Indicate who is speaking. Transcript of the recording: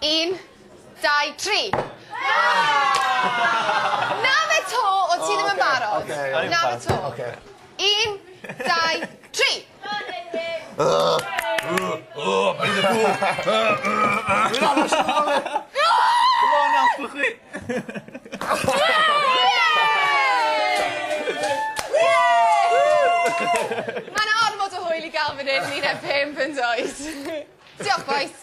Speaker 1: Un, dau, tri! Na fe 'to, o ti ddim yn barod. Na fe 'to. Un, dau, tri! Ma' 'na ormod o hwyl i ga'l fan 'yn yn un ar pump yndoes? Diolch bois.